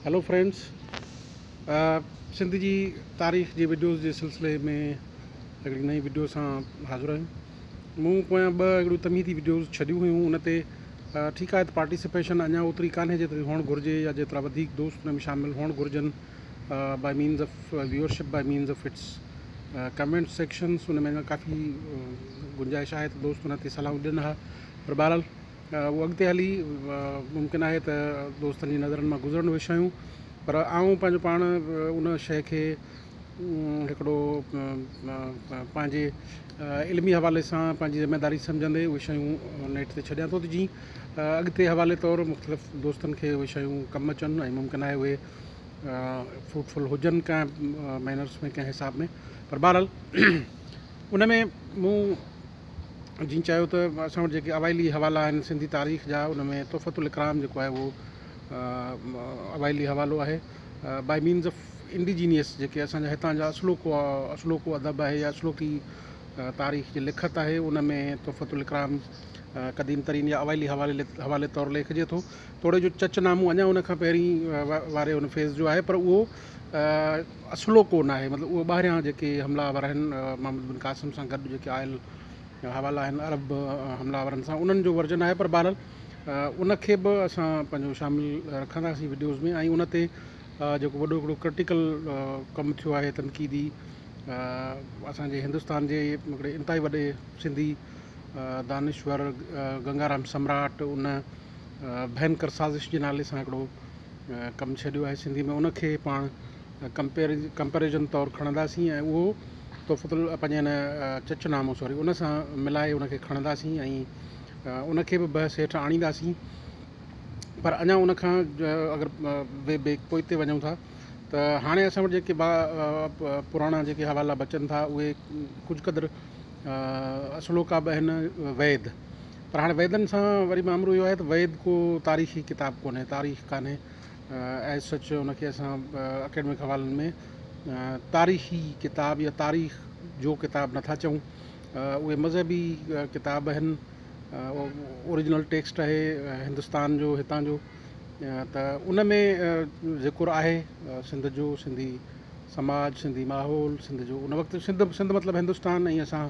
Hello friends Sindh جي تاريخ جي وڊيوز جي سلسلي ۾ هڪڙي نئين وڊيو سان حاضر آهيون مون پويان ٻه هڪڙيون تمهيدي وڊيوز ڇڏيون هيون ان تي ٺيڪ آهي ته پارٽيسپيشن اڃا اوتري ڪانهي جيتري هئڻ گهرجي يا جيترا وڌيڪ دوست ان ۾ شامل هئڻ گهرجن by means of viewership by means of its comment sections ان ۾ اڃا ڪافي گنجائش آهي ته دوست ان تي صلاحون ڏين ها پر بهرحال هو اڳتي هلي ممڪن آهي ته دوستن جي نظرن مان گذرڻ به شيون پر آئون پنهنجو پاڻ ان شيء کي هڪڙو پنهنجي علمي حوالي سان پنهنجي ذميداري سمجهندي اهي شيون نيٺ تي ڇڏيان ٿو ته جي اڳتي حوالي طور مختلف دوستن کي اهي شيون ڪم اچن ۽ ممڪن آهي اهي فروٽفل هجن ڪنهن مينرس ۾ ڪنهن حساب ۾ پر بهرحال ان ۾ مون جن چيو ته اسان وٽ جيڪي اوائلي حوالا آهن سنڌي تاريخ جا ان ۾ تحفة الاڪرام جيڪو آهي اهو اوائلي حوالو آهي بائي مينز آف انڊيجينيس جيڪي اسان جا هتان جا اصلوڪو اصلوڪو ادب آهي يا اصلوڪي تاريخ جي لکت آهي ان ۾ تحفة الاڪرام قديم ترين يا اوائلي حوالي حوالي طور ليکجي ٿو توڙي جو چچ نامو اڃا ان کان پهرين واري ان فيز جو آهي پر اهو اصلو ڪو ناهي مطلب اهي ٻاهريان جيڪي حملا آور آهن محمد بن قاسم سان گڏ جيڪي آيل حوالا آهن عرب حملا آورن سان انهن جو ورجن آهي پر بهرحال ان کي به اسان پنهنجو شامل رکنداسين وڊيوز ۾ ۽ ان تي جيڪو وڏو هڪڙو ڪرٽيڪل ڪم ٿيو آهي تنقيدي اسان جي هندستان جي هڪڙي انتهائي وڏي سنڌي دانشور گنگارام سمراٽ ان ڀينڪر سازش جي نالي سان هڪڙو ڪم ڇڏيو آهي سنڌي ۾ ان کي پاڻ ڪمپيئر ڪمپيرزن طور کڻنداسين ۽ اهو تحفته ال پنهنجي ان چچ نامو سوري ان سان ملائي ان کي کڻنداسين ۽ ان کي به بحث هيٺ آڻينداسين پر اڃا ان کان اگر وي بي پوئتي وڃون ٿا ته هاڻي اسان وٽ جيڪي با پراڻا جيڪي حوالا بچن ٿا اهي ڪجهه قدر اصلوڪا به آهن ويد پر هاڻي ويدن سان وري مامرو اهو آهي ته ويد ڪو تاريخي ڪتاب ڪونهي، تاريخ ڪانهي As such ان کي اسان اڪيڊمڪ حوالن ۾ تاريخي ڪتاب يا تاريخ جو ڪتاب نه ٿا چئون. اهي مذهبي ڪتاب آهن، اوريجنل ٽيڪسٽ آهي هندستان جو هتان جو ته ان ۾ ذڪر آهي سنڌ جو، سنڌي سماج، سنڌي ماحول، سنڌ جو ان وقت سنڌ سنڌ مطلب هندستان ۽ اسان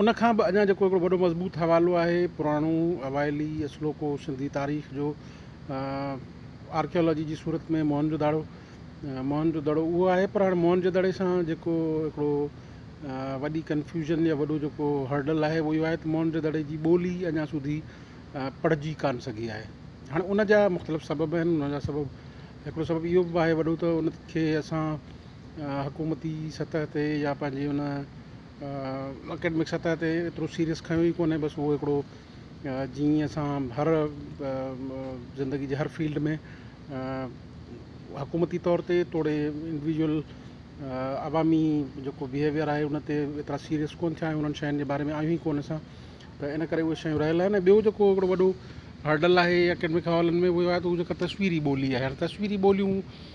ان کان به اڃا جيڪو هڪڙو وڏو مضبوط حوالو آهي پراڻو اوائلي اصلوڪو سنڌي تاريخ جو آرڪيالاجي جي صورت ۾ موهن جو داڙو موهن جو دڙو اهو آهي پر هاڻي موهن جو دڙي سان جيڪو هڪڙو وڏي ڪنفيوزن يا وڏو جيڪو هرڊل آهي اهو اهو آهي ته موهن جو دڙي جي ٻولي اڃا سوڌي پڙهجي ڪانه سگهي آهي هاڻي ان جا مختلف سبب آهن ان جا سبب هڪڙو سبب اهو به آهي وڏو ته ان کي اسان حڪومتي سطح تي يا پنهنجي ان اڪيڊمڪ سطح تي ايترو سيريس کنيو ئي ڪونهي بس اهو هڪڙو جيئن اسان هر زندگي جي هر فيلڊ ۾ حڪومتي طور تي توڙي انڊويجل عوامي جيڪو بيهيويئر آهي ان تي ايترا سيريس ڪونه ٿيا آهيون انهن شين جي باري ۾ آهيون ئي ڪونه اسان ته ان ڪري اهي شيون رهيل آهن ٻيو جيڪو هڪڙو وڏو هرڊل آهي اڪيڊمڪ حوالن ۾ اهو آهي ته هو جيڪا تصويري ٻولي آهي هاڻي تصويري ٻوليون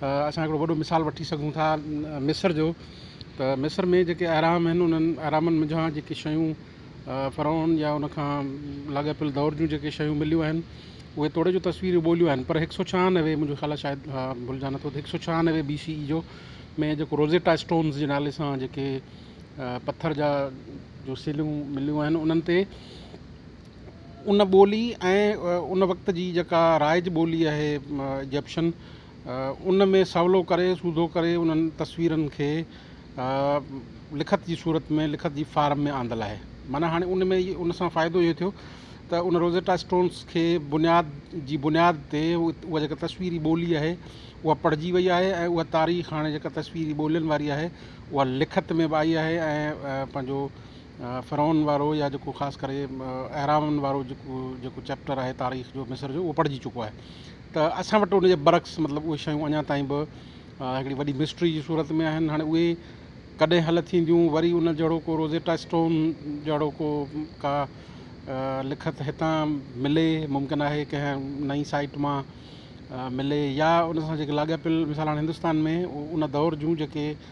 اسان هڪڙو وڏو مثال وٺي سگهون ٿا مصر جو ته مصر ۾ جيڪي اهرام آهن انهن اهرامن منجهان جيڪي شيون فرعون يا ان کان لاڳاپيل دور جون جيڪي شيون مليون آهن اهي توڙي جو تصويرون ٻوليون آهن پر هڪ سؤ ڇهانوي منهنجو خيال آهي شايد ڀلجان نٿو ته هڪ سؤ ڇهانوي بي سي اي جو ۾ جيڪو روزيٽا اسٽونز جي نالي سان جيڪي پٿر جا جو سيلون مليون آهن انهن تي ان ٻولي ۽ ان وقت جي جيڪا رائج ٻولي آهي ايجپشن ان ۾ سولو ڪري سوڌو ڪري انهن تصويرن کي لکت جي صورت ۾ لکت جي فارم ۾ آندل آهي معنيٰ هاڻي ان ۾ ان سان فائدو اهو ٿيو ته ان روزيٽا اسٽونس کي بنياد جي بنياد تي اها جيڪا تصويري ٻولي آهي اها پڙهجي وئي آهي ۽ اها تاريخ هاڻي جيڪا تصويري ٻولين واري آهي اها لکت ۾ به آئي آهي ۽ پنهنجو فرعون وارو يا جيڪو خاص ڪري اهرامن وارو جيڪو جيڪو چيپٽر آهي تاريخ جو مصر جو اهو پڙهجي چڪو آهي ته اسان وٽ ان جي برعڪس مطلب اهي شيون اڃا تائين به هڪڙي وڏي مسٽري جي صورت ۾ آهن هاڻي اهي ڪڏهن حل ٿينديون وري ان جهڙو کو روزيٽا اسٽون جهڙو کو ڪا لکت هتان ملي ممڪن آهي ڪنهن نئي سائيٽ مان ملي يا ان سان جيڪي لاڳاپيل مثال هاڻي هندستان ۾ ان دور جون جيڪي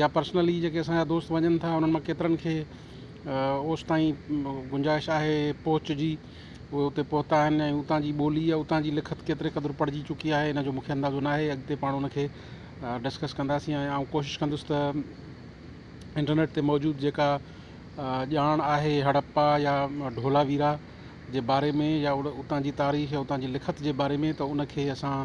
يا پرسنلي جيڪي اسان جا دوست وڃن ٿا انهن مان ڪيترن کي اوستائين گنجائش آهي پهچ جي اهي اتي پهتا آهن ۽ اتان جي ٻولي يا اتان جي لکت ڪيتري قدر پڙهجي چڪي آهي ان جو مونکي اندازو ناهي اڳتي پاڻ ان کي ڊسڪس ڪنداسين ۽ آئون ڪوشش ڪندس ته انٽرنيٽ تي موجود جيڪا ڄاڻ آهي هڙپا يا ڍولا ويرا جي باري ۾ يا اتان جي تاريخ يا اتان جي لکت جي باري ۾ ته ان کي اسان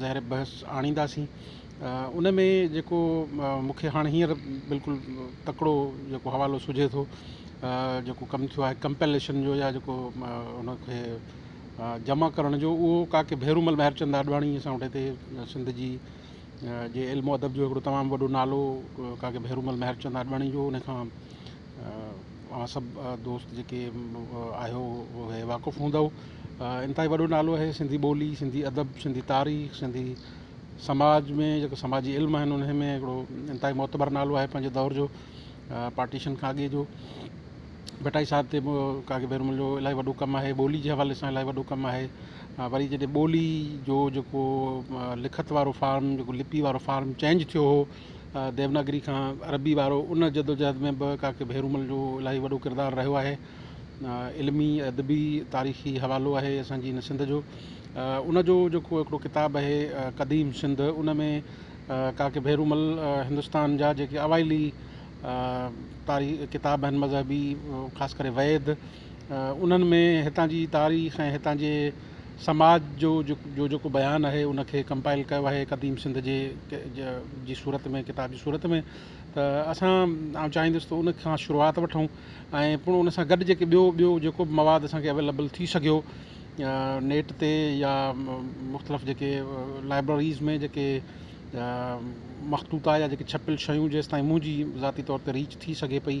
ظاهر بحث آڻينداسين ان ۾ جيڪو مون کي هاڻ هينئر بلڪل تڪڙو جيڪو حوالو سجهي ٿو جيڪو ڪم ٿيو آهي ڪمپليشن جو يا جيڪو ان کي جمع ڪرڻ جو اهو ڪا ڪي ڀيرومل مهرچند آڏواڻي اسان وٽ هتي سنڌ جي جي علم ادب جو هڪڙو تمام وڏو نالو ڪا ڪي ڀيرومل مهرچند آڏواڻي جو ان کان اوهان سڀ دوست جيڪي آهيو اهي واقف هوندؤ انتهائي وڏو نالو آهي سنڌي ٻولي سنڌي ادب سنڌي تاريخ سنڌي سماج ۾ جيڪو سماجي علم آهن انهي ۾ هڪڙو انتهائي معتبر نالو آهي پنهنجي دور جو پارٽيشن کان اڳي جو ڀٽائي صاحب تي بھ ڪاڪي بيرمل جو الاهي وڏو ڪم آهي ٻولي جي حوالي سان الاهي وڏو ڪم آهي وري جڏهن ٻولي جو جيڪو لکت وارو فارم جيڪو لپي وارو فارم چينج ٿيو هو ديوناگري کان عربي وارو ان جدوجهد ۾ به ڪاڪي ڀيرومل جو الاهي وڏو ڪردار رهيو آهي علمي ادبي تاريخي حوالو آهي اسان جي هن سنڌ جو ان جو جيڪو هڪڙو ڪتاب آهي قديم سنڌ ان ۾ ڪاڪي ڀيرومل هندوستان جا جيڪي اوائلي تاريخ ڪتاب آهن مذهبي خاص ڪري ويد انهن ۾ هتان جي تاريخ ۽ هتان جي سماج جو جو جيڪو بيان آهي ان کي ڪمپائل ڪيو آهي قديم سنڌ جي جي صورت ۾ ڪتاب جي صورت ۾ ته اسان آئون چاهيندس ته ان کان شروعات وٺون ۽ پڻ ان سان گڏ جيڪي ٻيو ٻيو جيڪو بھ مواد اسان کي اويليبل ٿي سگھيو نيٽ تي يا مختلف جيڪي لائبرريز ۾ جيڪي مخطوطا يا جيڪي ڇپيل شيون جيستائين منهنجي ذاتي طور تي ريچ ٿي سگھي پئي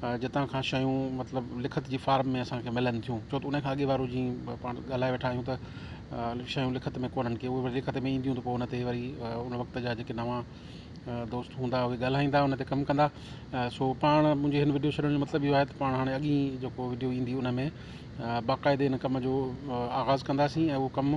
جتان کان شيون مطلب لکت جي فارم ۾ اسان کي ملن ٿيون ڇو ته ان کان اڳي وارو جيئن پاڻ ڳالهائي ويٺا آهيون ته شيون لکت ۾ ڪونهن ڪي اهي وري لکت ۾ اينديون ته پوء ان تي وري ان وقت جا جيڪي نوان دوست هوندا اهي ڳالهائيندا ان تي ڪم ڪندا سو پاڻ منهنجي هن وڊيو ڇڏڻ جو مطلب اهو آهي ته پاڻ هاڻي اڳي جيڪو وڊيو ايندي ان ۾ باقاعدي ان ڪم جو آغاز ڪنداسين ۽ اهو ڪم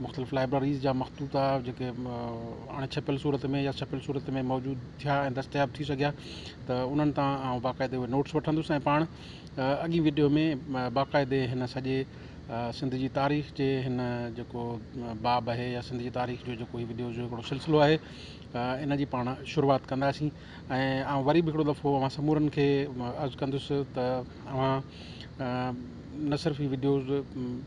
مختلف لائبريريز جا مخطوطا جيڪي اڻ ڇپيل صورت ۾ يا ڇپيل صورت ۾ موجود ٿيا ۽ دستياب ٿي سگهيا ته انهن تان آئون باقاعدي اهي نوٽس وٺندس ۽ پاڻ اڳئين وڊيو ۾ باقاعدي هن سڄي سنڌ جي تاريخ جي هن جيڪو باب اهي يا سنڌ جي تاريخ جو جيڪو هي وڊيوز جو هڪڙو سلسلو آهي ان جي پاڻ شروعات ڪنداسين ۽ آئون وري به هڪڙو دفعو اوهان سمورن کي عرض ڪندس ته اوهان نه صرف هي وڊيوز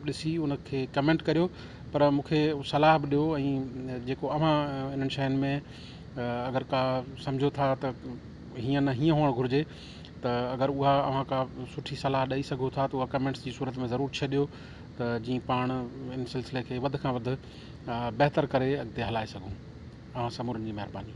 ڏسي ان کي ڪمينٽ ڪريو پر مون کي صلاح به ڏيو ۽ جيڪو اوهان انهن شين ۾ اگر ڪا سمجهو ٿا ته هيئن نه هيئن هئڻ گهرجي ته اگر اها اوهان ڪا سٺي صلاح ڏئي سگهو ٿا ته اها ڪمينٽس جي صورت ۾ ضرور ڇڏيو ته جيئن پاڻ ان سلسلي کي وڌ کان وڌ بهتر ڪري اڳتي هلائي سگهون. اوهان سمورن جي مهرباني.